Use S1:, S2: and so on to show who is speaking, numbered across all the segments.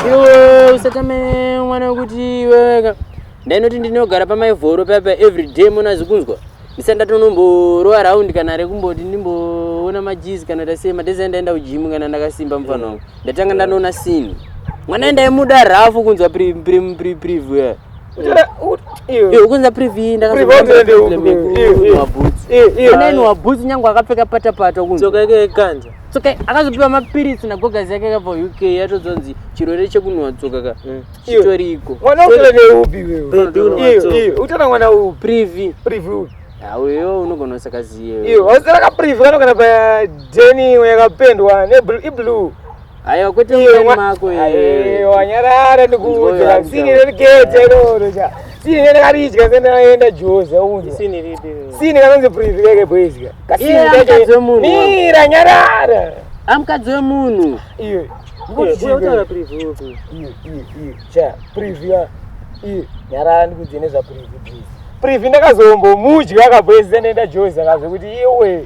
S1: iwe usatame mwana wekuti iweweka ndainoti ndinogara pamaivhoro paya pa everyday mona zikunzwa ndisati ndatonomborowa raundi kana rekumboti ndimboona majizi kana tasei madhezi andaenda kujimu kana ndakasimba mufana wangu ndatanga ndanoona sini mwana ndaimuda rafu kunzwa preview ukunza privy ndakaaenwa boots nyange akapfeka patapata kunzoka yake yekanza tsoka akazopiwa mapiritsi nagogazi yake yakabva uk yatodzonzi chirwere chekunhuwa tsoka ka mm. chitoriko privy auyo unogona usakaziyeausarakaprivy kanogana pa deni yakapendwa iblue Ayo kuti mwana mako yeye. Wanyarara ndikuudza sini relikete lolo cha. Sini rekaridya sena yenda Jose unzi. Sini ripi. Sini kanonzi privilege boys ka. Kasini kacho. Mira nyarara. Amkadzi wemunhu. Iye. Ndikuti unotaura preview upi? Iye iye iye. Cha preview. Iye. Nyarara ndikuudza nezva preview. Preview ndakazombomudya kabwezi sena yenda Jose akazve kuti iwe.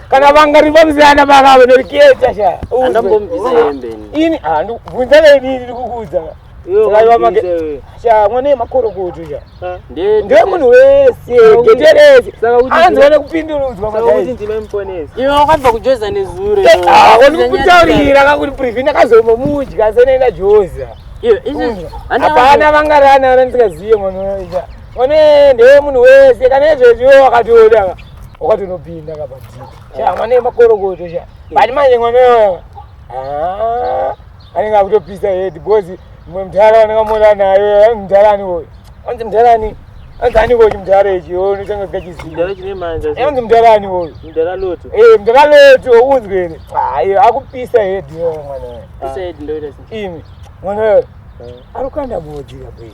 S1: kana vangari vamzana vakavo norikieta sha andombombisa hembe ini handu ah, vunza veni ndiri kukuudza sha mwana yemakorokoto sha ndiwe munhu wese gete rese anzi wane kupindurudzwa iwe wakabva kujoza nezuro eh, ah, wanikutaurira kakuti privhi ndakazomomudya senoenda joza hapana vangarana vana ndisingazive mwana unoita one ndewe munhu wese kana izvezviwo wakatoda ka wakatonopinda kapadii chama nemakorokoto cha bati manje mwana yoyo ah, anenge akutopisa hedi because mwe mdhara wandakamuona nayo mdhara ani woyo anzi mdhara ani anzi ani woyo chimdhara ichi onotanga zikachizianzi mdhara ani woyo mdhara loto eh, unzwere ayo ah, akupisa hedi yoyo mwana yoyo imi mwana yoyo eh. arikukanda moji kabei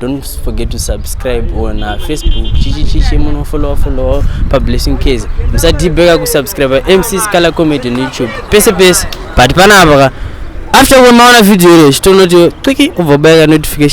S1: Don't forget to subscribe on uh, Facebook chichi chichi muno follow follow pa blessing case musadhibheka kusubscribe MC Scala comedy on YouTube pese pese but panapa ka after kuona maona video iro chitonoti twiki ubva bayaka notification